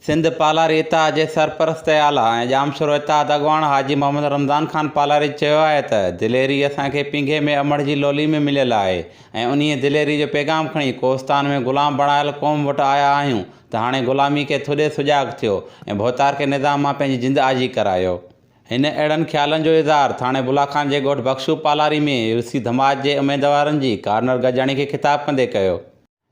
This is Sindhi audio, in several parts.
سنڌ پالاري اتحاد جي سرپرست اعليٰ ۽ ڄامشورو اتحاد اڳواڻ حاجي محمد رمضان خان پالاري چيو آهي ته دليري اسان کي پينگهي ۾ امڙ جي لولي ۾ مليل آهي ۽ انهيء دليري جو پيغام کڻي ڪوهستان ۾ غلام بڻايل قوم وٽ آيا آهيون ته هاڻي غلامي کي ٿڏي سجاڳ ٿيو ۽ ڀوتارڪي نظام مان پنهنجي جند آجي ڪرايو. هن اهڙن خيالن جو اظهار ٿاڻي بلا خان جي ڳوٺ بخشو پالاري ۾ يوسي ڌماج جي اميدوارن جي ڪارنر گڏجاڻي کي خطاب ڪندي ڪيو.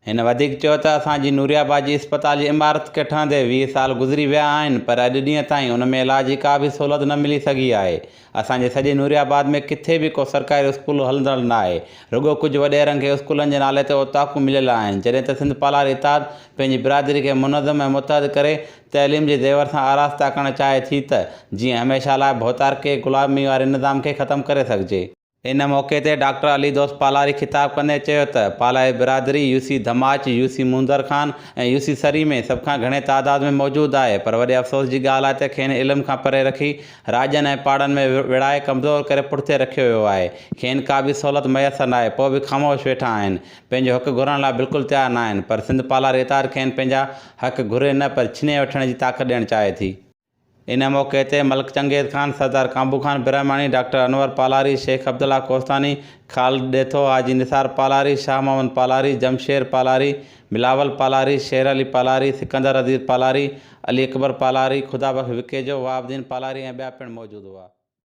هن وڌيڪ چيو ته اسان جي نوري آباد جي اسپتال جي عمارت کي ٺهندي ويهه سال گذري ويا آهن پر اڄ ڏينهن تائين ان ۾ علاج جي ڪا به سهولت نه ملي سگهي آهي، اسان جي سڄي نوري آباد ۾ ڪٿي به ڪو سرڪاري اسڪول هلندڙ ناهي، رڳو ڪجهه وڏيرن کي اسڪولن جي نالي تي اوطاقون مليل آهن، جڏهن ته سنڌ پالار اتحاد پنهنجي برادري کي منظم ۽ متحد ڪري تعليم جي زيور سان آراسته ڪرڻ چاهي ٿي ته جيئن هميشه لاء ڀوتارڪي غلامي واري نظام کي ختم ڪري سگهجي. ان موقعي تي ڊاڪٽر علي دوست پالاري خطاب ڪندي چيو ته پالاري برادري U C Dhamach, U C Mondhar Khan ۽ U C Sari ۾ سڀ کان گهڻي تعداد ۾ موجود آهي پر وڏي افسوس جي ڳالهه آهي ته کين علم کان پري رکي راڄن ۽ پاڙن ۾ وڙهائي ڪمزور ڪري پٺتي رکيو ويو آهي کين ڪا به سهولت ميسر ناهي پوء به خاموش ويٺا آهن پنهنجو حق گهرڻ لاء بلڪل تيار ناهن پر سنڌ پالاري اتحاد کين پنهنجا حق گهري نه پر ڇني وٺڻ جي طاقت ڏيڻ چاهي ٿي. ان موقعي تي ملڪ چنگيز خان، سردار ڪانبو خان برهماڻي، ڊاڪٽر انور پالاري، شيخ عبدالله ڪوهستاني، خالد ڏيٿو، حاجي نثار پالاري، شاهه محمد پالاري، جمشير پالاري، بلاول پالاري، شير علي پالاري، سڪندر عزيز پالاري، علي اڪبر پالاري، خدا بخش وکيجو، وهاب الدين پالاري ۽ ٻيا پڻ موجود هئا.